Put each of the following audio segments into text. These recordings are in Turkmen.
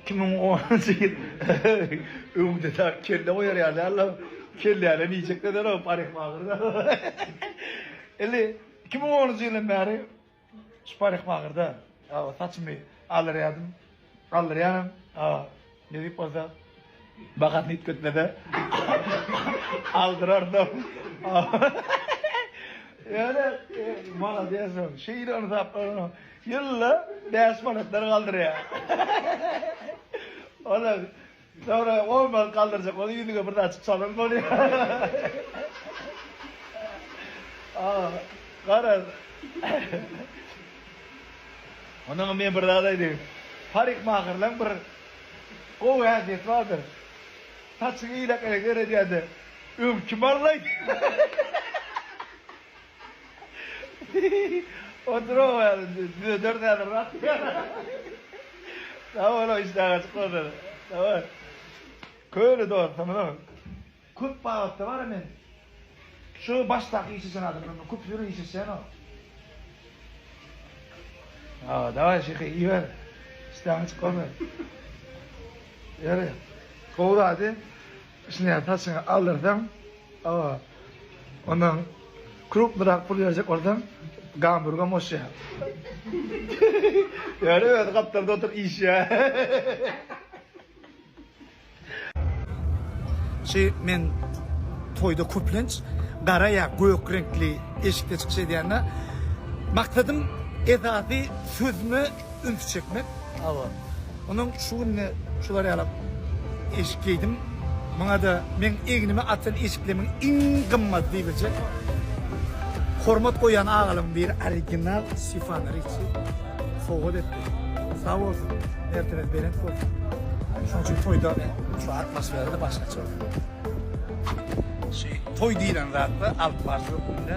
Iki müň onunjy ýyl öňde tar kelle goýar ýaly däldir. Kelläni iýjek däl o parykmagyrda. Indi iki müň onunjy ýyldan bäri şu parykmagyrda saçymy aldyrýardym. Aldyrýanam. Nedip bolsa Bahasy ýitgetmese, aldyrardym. Ýöne, molodesoň, şeýle ynsaplaryň ýylda bäş manatlar galdyrýar. Ola, soňra on manat galdyrjak bolup, ýüzüňe bir zat çypsalam bolýar. A, garaz. Onnoňam men bir zat aýdaýyn. Parikmaherleň bir Gowy häsiýeti bardyr. Saçyňy ýylak eger edýäde öň kim allaý? Oturow häzir düzederis häzir rast gelsin. Sag boluň işdäňiz açyk bolsun. Köne dostumyz. Köp babatda bara men şu başdaky iş eçen adam bilen köp ýöne iş eçenok. Ha, daway şyhy iýiber. Işdäňi çykarma. Ýeri. Gowy zady. Şuny saçyňa aldyrsaň, awa. Ondan krupnyrak pul berjek bolsaň, gamburga moşýar. Ýeri özi gapdalda oturyp iýişýär. Şi men toýda köplenç gara ýa gök reňkli eşikde çykyş edýända maksadym esasy sözüme üns çekmek. Hawa. Ondan şu günde şular ýalak eşik geýdim. Muňada meň egnime atýan eşiklerimiň iň gymmaty diýiljek. Hormat goýýan agalarymyň biri original Stefano Ricci sowgat etdi. Sag bolsun, mertebesi belent bolsun. Şoň üçin toýda şu atmosfera-da başgaça bolýar. Şu toý diýlen zatda alyp baryş hökmünde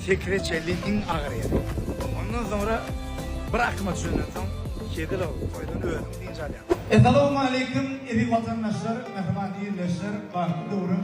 sekre çenli iň agyr ýeri. Ondan soňra bir akyma düşenden soň Kezilow toýdan özüň dynç alýaň. Essalawmaleýkim eziz watandaşlar, mähriban ildeşler, bagtly döwrüň.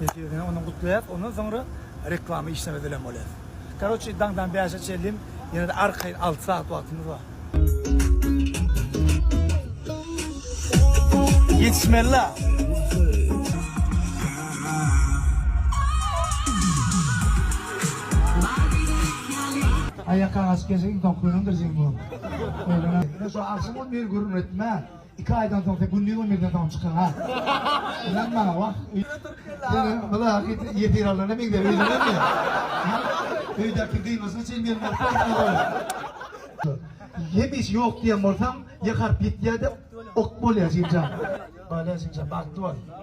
Netijede ony gutlaýas. Ondan soňra reklama işlemez bilen bolýas. Karoçi daňdan bäşe çenlin ýene-de arkaýyn alty sagat wagtymyz bar. Ýetişmeli-la. Aýakagaç gecigi doňkynyndyr jeň bolup. Öýlene. Şo agşam ol meni gürrüň etmä. Iki aýdan soň sen gündiz on birden soň çykyň ha. Ynan maňa wah. Seni bula ýesir alnana meňzäp öýlenenmi? Öýdäki gyýmasyna çenli ýerim baryp gitmedi. Hemişe ýok diýen bolsaň, ýakaryp ýitýär-de, ok bolýar jigimjan. Bale jigimjan, bagtly bol.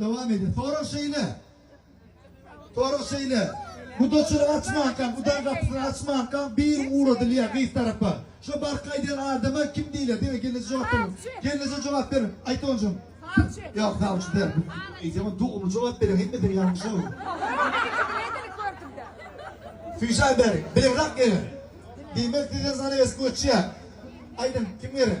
Dowam edýär. Sorag şeýle. Sorag şeýle. Gudaçylyk açmanka, gudaň gapysyny açmanka bir ugradylýar gyz tarapa. Şo barka aýdýan adama kim diýilýär? Diňe gelneje jogap beriň. Gelneje jogap beriň. Aýt onjam. Sawçy. Ýok, sawçy däl. Eýsem dogry jogap beriň. Hemmesini ýalňyş aýdýar. Süýşen beriň. Bilerak geliň. Diýmek size zanawes göçýär. Aýdyň, kim gerek?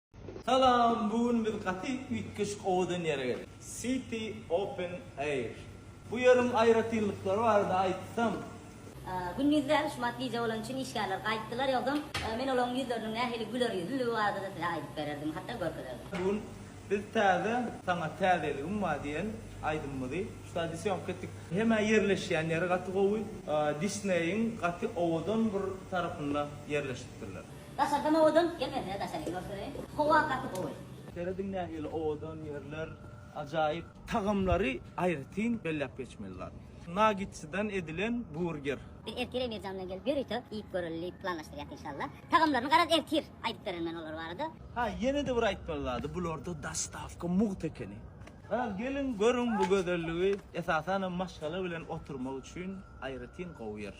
Salam, bu gün biz gaty üýtgeşik owadan ýere geldik. City Open Air. Bu ýeriň aýratynlyklary barada aýtsam. Gündiz däl, şumat gije bolany üçin işgärler gaýtdylar, ýogsam, men olaryň ýüzleriniň nähili güler ýüzlüligi barada-da size aýdyp bererdim, hatda görkezerdim. Bu gün biz täze, Saňa täzeligim bar diýen aýdymymyzy şu taýda syýomka etdik. Hem-ä ýerleşýän ýeri gaty gowy. Disney-iň gaty owadan bir tarapynda ýerleşipdirler. Daşardan owadan gel men size daşary görkezeýin howa gaty gowy. Serediň nähili owadan ýerler ajaýyp. Tagamlary aýratyn belläp geçmeli zat. Nagitçydan edilen burger. Biz ertir Emirjan bilen gelip ýörite iýip göreli diýip planlaşdyrýas inşallah. Tagamlaryny garaz ertir aýdyp bererin men olar barada. Ha ýenede bir aýtmaly zady bularda dostawka mugt ekeni. Garaz geliň görüň bu gözelligi esasanam maşgala bilen oturmak üçin aýratyn gowy ýer.